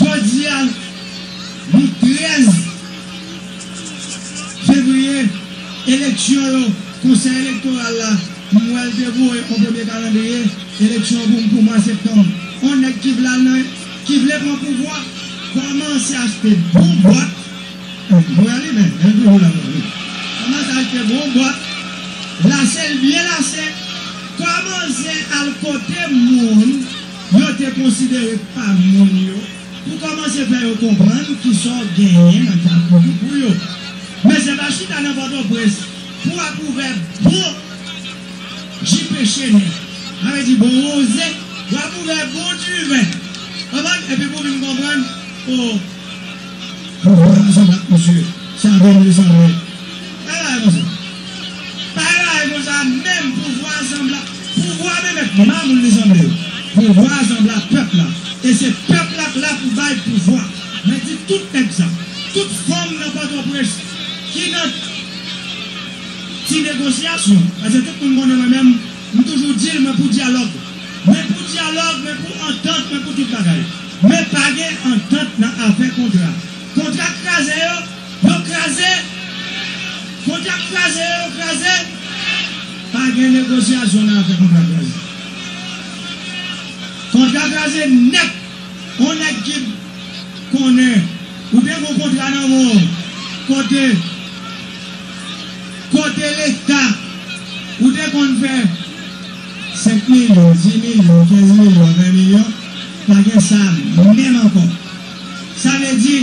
Jodi a, nou 13 fevriye, eleksyon yo, Konsèy Elektoral la, m wè l te voye yon premye kalandriye eleksyon pou m pou mwa septanm. On nèg ki vle al nan ki vle pran pouvwa, kòmanse achte bon bwat, m wè li menm, men l toujou la mwen ri, kòmanse achte bon bwat, lase l byen lase, kòmanse al kote moun. Yo te konsidere pa moun yo pou kòmanse fè yo konprann kisa w genyen nan kay pou ki pou yo. Men se pa chita nan Pòtoprens pou w ap ouvè bon jipe chene, sa vle di bon wonze, w ap ouvè bon diven, w konprann, epi pou w vin konprann, o. Kouraj avèk misye sa vre manje sa vre. Pa lage konsa. Pa lage konsa menm pouvwa sanbla pouvwa menm et mamoun li sanble yo. Pouvwa sanbla pèp la e se pèp la k la pou bay pouvwa. Mwen di tout nèg sa. Tout fanm nan pòtoprens ki nan ti negosyasyon pase tout moun konnen mwen menm m toujou dil mwen pou dyalòg. Mwen pou dyalòg mwen pou antant mwen pou tout bagay. Men pa gen antant nan afè kontra. Kontra kraze yo, yo kraze! Kontra kraze yo, yo kraze! Pa gen negosyasyon nan afè kontra kraze. Kontra kraze nèt! On nèg ki konnen ou te gen yon kontra nan men w kote kote leta ou te konn fè. 5 milyon, 10 milyon, 15 milyon, 20 milyon, pa gen sa menm ankò. Sa vle di,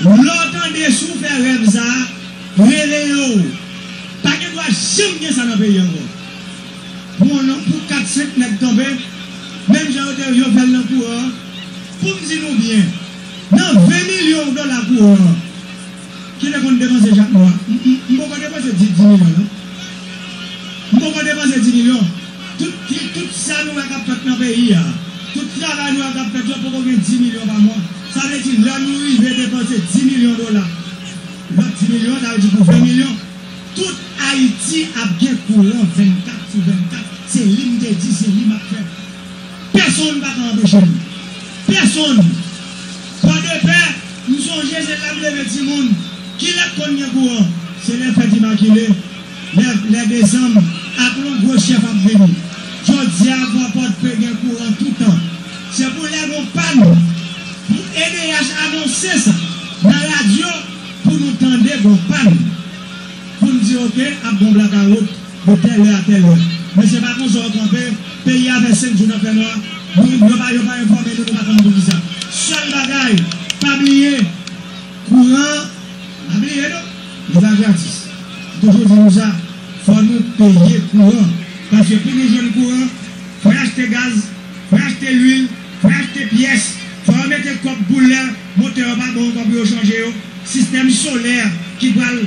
lè w tande si w fè rèv sa, rele yo w. Pa gen dwa janm gen sa nan peyi ankò. Bon non, pou 4, 5 nèg kanpe, menm jan yo te yo fè l nan kouran an, pou m di nou byen, nan 20 milyon dola kouran an, Kile konn depanse jak nwa. M poko depanse di milyon non m poko depanse di milyon tout sa nou wè kap fèt nan peyi a tout travay nou wè kap fèt yo poko gen di milyon pa mwa sa vle di lè nou rive depanse di milyon dola lòt di milyon sa vle di pou 20 milyon tout ayiti ap gen kouran 24 sou 24 se li m te di se li map fè pèsonn paka anpeche m pèsonn. Pwa de pè, m sonje se la m leve timoun. Ki lè k konn gen kouran? Se lè fèt Imakile, lè lè desanm, ak lon gwo chèf ap vini. Jodi a, Pwa Pòdpe gen kouran toutan. Se pou lè gon pàn pou edh anonse sa nan radyo pou nou tande gon pàn pou n di ok ap gon blakawout. De tèl lè a tèl lè. Mesye pa konsa yo kanpe, peyi a fè 5 jou nan fè nwa, nou yo pa yo pa enfòme nou nou pa konn poukisa. Sèl bagay pa bliye kouran pa bliye non li pa gratis m toujou di nou sa fò nou peye kouran paske pou nou jwenn kouran fòy achte gaz fòy achte lwil fòy achte pyès fò yo mete kòb pou lè motè yo pa bon ankò pou yo chanje yo sistèm solè ki pral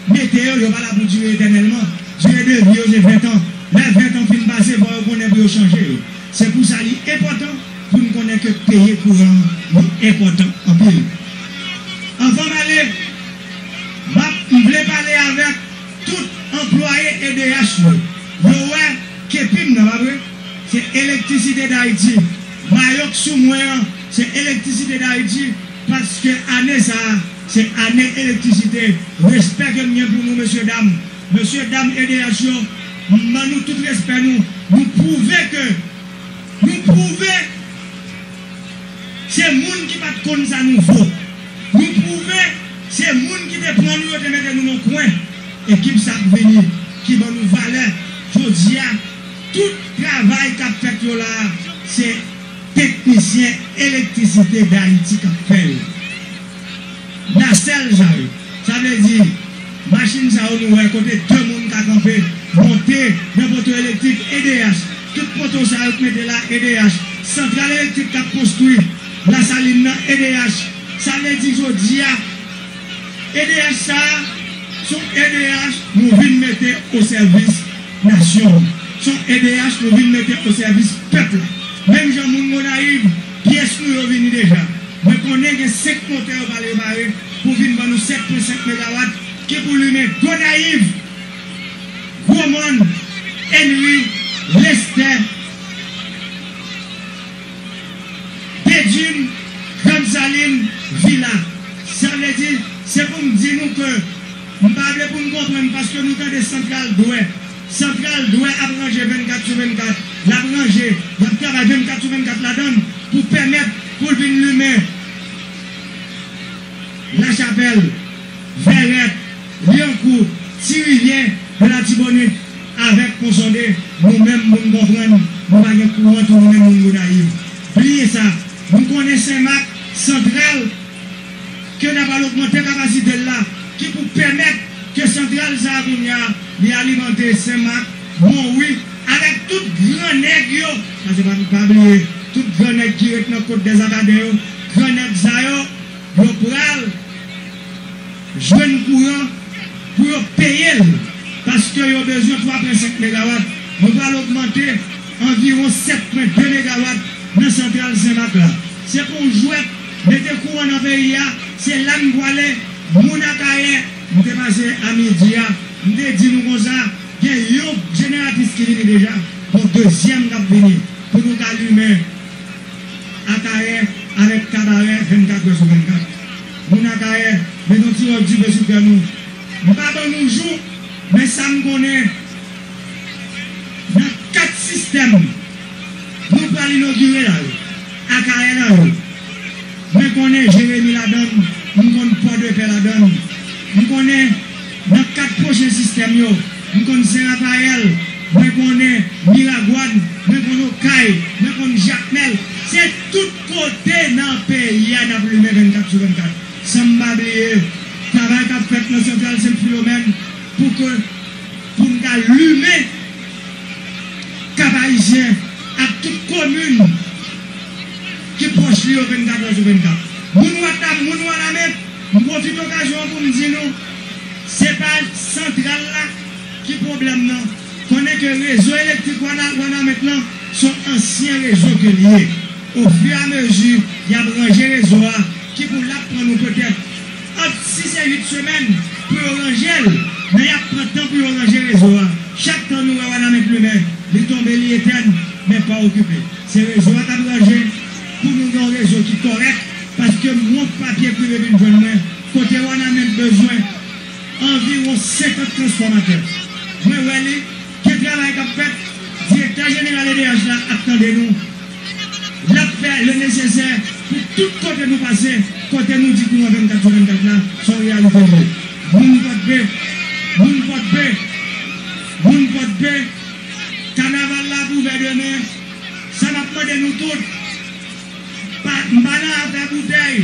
Mete yo, yo pa la pou dire etènèlman. Dire de vi yo se ventan. Lè ventan fin pase, fò yo konnen pou yo chanje yo. Se pou sa li enpòtan pou n konnen ke peye kouran an li enpòtan anpil. Anvan m ale, m ap, m vle pale avèk tout anplwaye edh yo. Yo wè kepi m nan, pa vre? Se Electricité d'Haïti. Mayo k sou mwen an, se Electricité d'Haïti paske ane sa a, Se ane elektrisite, respè ke m gen pou nou mesye dam, mesye dam edh yo m ban nou tout respè nou, nou pwouve ke nou pwouve se moun ki pat konn sa nou vo, nou pwouve se moun ki te pran nou yo te mete nou nan kwen, ekip sa ap vini ki ban nou valè jodia, tout travay kap fèt yo la se teknisyen elektrisite dayiti kap fè yo. Nasèl sa yo. Sa vle di machin sa yo nou wè kote 2 moun ka kanpe, monte nan poto elektrik edh. Tout poto sa yo k mete la edh. Santral elektrik kap konstwi Lasalin nan edh. Sa vle di jodi a edh sa a s on edh nou vin mete o sèvis nasyon an. S on edh nou vin mete o sèvis pèp la. Menm jan moun Gonayiv. Pyès nou yo vini deja. Mwen konnen gen 5 motè yo pral repare pou vin ban nou 7 pwen 5 megawat ki pou limen Gonayiv, Gwo Mòn, Enri, Lestè, Bedjine, Grann Salin, Vila. Sa vle di, se pou m di nou ke m pa vle pou n konprann paske nou tande santral dwè. Santral dwè ap ranje 24 sou 24, l ap ranje, y ap travay 24 sou 24 ladan l pou pèmèt pou l vin limen Lachapèl, Vèrèt, Lyankou, Ti Rivyè, de Latibonit avèk Ponsonde. Nou menm pou n konprann nou pa gen kouran tounen moun Gonayiv. Bliye sa. Nou konnen Senmak, Santral. ke na pral ogmante kapasite l la ki pou pèmèt ke santral sa a kounya li alimante Sen Mak, Monwi avèk tout gran nèg yo, pase pa pa bliye tout gran nèg ki ret nan Kot Dèzakaden yo, gran nèg sa yo, yo pral jwenn kouran pou yo peye l paske yo bezwen 3 pwen 5 megawat, nou pral ogmante anviwon 7 pwen 2 megawat nan santral Sen Mak la. Se pa yon jwèt. Mete kouran nan peyi a se la m pwale moun akayè m te pase a midi a m te di nou konsa gen yon jeneratris ki vini deja bon dezyèm kap vini pou nou ka limen akayè avèk kabarè 24 è sou 24 moun akayè met yon ti ròl dife sou kè nou m pa ban nou jou men sa m konnen nan 4 sistèm nou pral inogire la yo. Akaelao Mwen konnen Jeremi ladann m konn pò de pè ladann m konnen nan 4 pwochen sistèm yo m konn sen rapayèl mwen konnen miragwàn mwen konn okay mwen konn jakmèl se tout kote nan peyi a nap limen 24 sou 24 san m pa bliye travay kap fèt nan santral sentfilomèn pou ke poun ka limen Kap Ayisyen ak tout komin ki pwòch li yo 24 è sou 24. Moun Wanament, moun Wanament, m pwofite okazyon an pou m di nou, se pa santral la ki pwoblèm nan, konnen ke rezo elektrik Wanament lan son ansyen rezo ke li ye, o fur et à mesure yap ranje rezo a ki pou lap pran nou petèt. Ant 6 e 8 semèn pou yo ranje l, men y ap pran tan pou yo ranje rezo a. Chak tan nou wè Wanament limen, li tonbe, li etèn, men pa okipe. Se rezo a k ap ranje pou nou gen yon rezo ki kòrèk, paske m wont papye k rive vin jwenn mwen, kote Wanament bezwen anviwon 50 transfòmatè. Mwen wè li. Gen travay kap fèt, direktè jeneral edh la ap tande nou, lap fè le nesesè pou tout kote nou pase, kote nou di kouran 24 sou 24 la son reyalite li ye. Moun pòdpe, moun pòdpe, moun pòdpe, kanaval la ap ouvè demen, sa map mande nou tout, pa, m pa nan afè boutèy,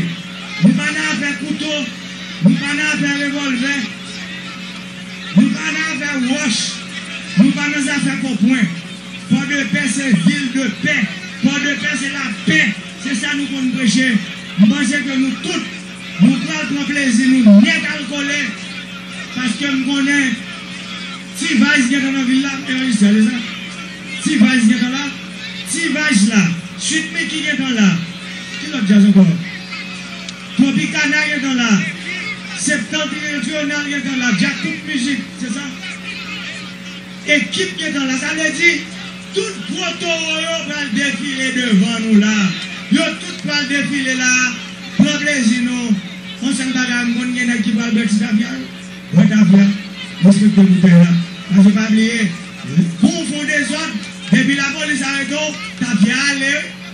m pa nan afè kouto, m pa nan afè revòlvè, Nou pa nan afè wòch, nou pa nan zafè konpwen. Pòdepè se vil de pè, Pòdepè se lapè, se sa nou konn preche. M panse ke nou tout, nou pral pran plezi nou nèt al kole, paske m konnen T-Vice gentan nan vil la, Evangeliste se ale sa? T-Vice gentan la, T-Vice la, Sweet Micky gentan la, ki lòt djaz ankò? Tropicana ye dans la Septentrional ye dans la Djakout Music se sa Ekip ye dans la sa vle di tout gwo towo yo pral defile devan nou la yo tout pral defile la pran plezi nou on sèl bagay m konn gen nèg ki pral bwè ti tafya yo bwè tafya respekte boutèy la paske pa bliye kou w fon dezòd depi lapolis arete w tafya ale wi.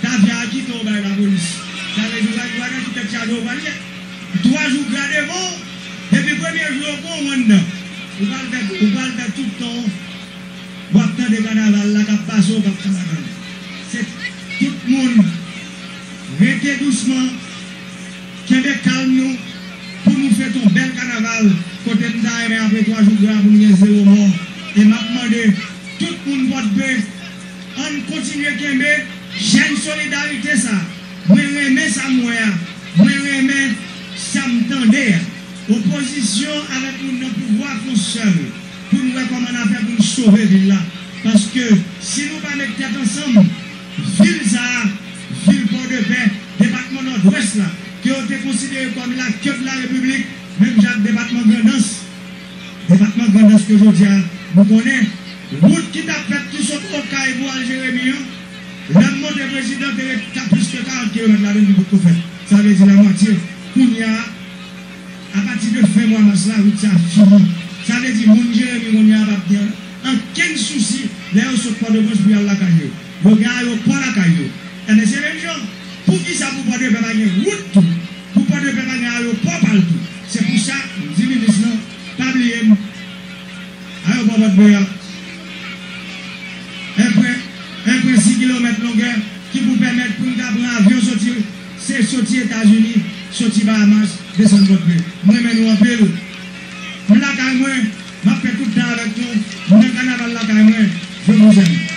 Caviar ki fè ou bay la polis? Sa vle di ou pa gen bagay ki tèt chaje ou pral net. Twa jou gra devan w, depi premye jou yo pran w anndan. Ou pral fè ou pral fè tout tan w wap tande kanaval la kap pase w kap fè madanm. Se tout moun rete dousman, kenbe kalm nou pou nou fete yon bèl kanaval kote m ta renmen apre 3 jou gra pou n gen 0 mò e map mande tout moun Pòdpe Ann kontinye kenbe jèm solidarite sa mwen renmen sam wè a mwen renmen sam tande a opozisyon avèk moun nan pouvwa fon sèl poun wè kòman na fè poun sove vil la paske si nou pa met tèt ansanm vil sa vil pòdepè depatman nòdwès la ke yo te konsidere kòm la kèb la repiblik menm jan ak depatman grandans. Depatman Grandans ke jodi a nou konnen. Wout ki tap fèt ki sot Okay pou al Jeremi an, lè m monte prezidan te ret ka plis ke 40 kilomèt ladann li potko fèt. Sa vle di la mwatye. Kounya a, apati de fen mwa mas la, wout sa fini. Sa vle di moun Jeremi kounya a pap gen ankenn sousi lè yo sot Pòtoprens pou y al lakay yo. Yo gen ayopò lakay yo. Enben se menm jan, poukisa pou Pòdepè pa gen wout tou? Nou pran de pèpa gen ayopò pal tou se pou sa m di minis lan pa bliye m ayopò pòt pè a en prè en prè 6 kilomèt longè ki pou pèmèt pou n ka pran avyon soti se soti etazini soti bahamas desann pòt pè m renmen nou anpil m lakay mwen. Map fè tout tan avèk nou m nan kanaval lakay mwen je vous aime.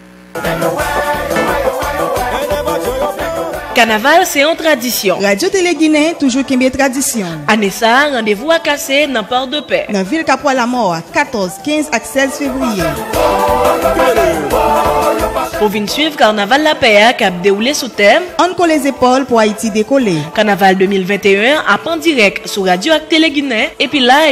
Kanaval se yon tradisyon. Radyo Tele Ginen toujou kenbe tradisyon l. Ane sa a, randevou a kase nan Pòdepè. Nan vil Kapwa Lamò a, 14, 15 ak 16 fevriye. Pou vin swiv Kanaval Lapè a k ap dewoule sou tèm. Ann kole zepòl pou Ayiti dekole. Kanaval 2021 an ap an dirèk sou radyo ak Tele Ginen epi live.